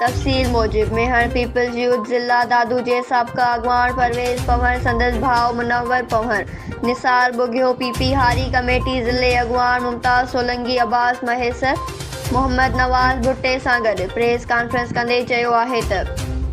تفصيل موجب Mehar peoples youth ضلع دادو جي سابقه اڳواڻ پرويز پنهور سندس ڀاء منور پنهور، نثار ٻگهيو، پي پي هاري ڪميٽي ضلعي اڳواڻ ممتاز سولنگي، عباس مهيسر، محمد نواز ڀٽي سان گڏ پريس ڪانفرنس ڪندي چيو آهي ته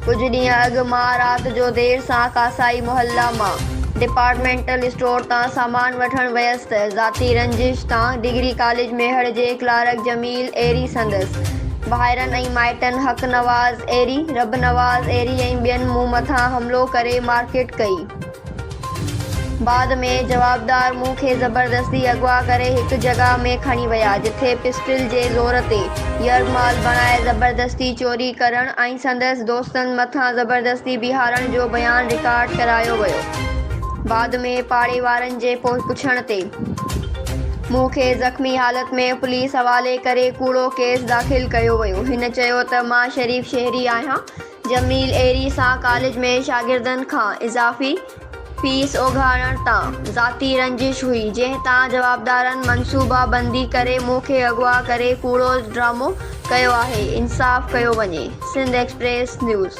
ڪجهه ڏينهن اڳ مان رات جو دير سان ڪاسائي محله مان ڊپارٽمينٽل اسٽور تان سامان وٺڻ ويس ته ذاتي رنجش تان ڊگري ڪاليج ميهڙ جي ڪلارڪ جميل ايري سندس ڀائرن ۽ مائٽن حق نواز ايري، رب نواز ايري ۽ ٻين مون مٿان حملو ڪري مارڪٽ ڪئي. بعد ۾ جوابدار مون کي زبردستي اغوا ڪري هڪ جڳهه ۾ کڻي ويا جتي پسٽل جي زور تي يرغمال بڻائي زبردستي چوري ڪرڻ ۽ سندس دوستن مٿان زبردستي بيهارڻ جو بيان رڪارڊ ڪرايو ويو. بعد ۾ پاڙي وارن جي پڇڻ تي. مون کي زخمي حالت ۾ پوليس حوالي ڪري ڪوڙو ڪيس داخل ڪيو ويو، هن چيو ته مان شريف شهري آهيان، جميل ايري سان ڪاليج ۾ شاگردن کان اضافي فيس اوگهاڙڻ تان ذاتي رنجش هئي، جنهن تان جوابدارن منصوبا بندي ڪري مون کي اغوا ڪري ڪوڙو ڊرامو ڪيو آهي، انصاف ڪيو وڃي. Sindh express news.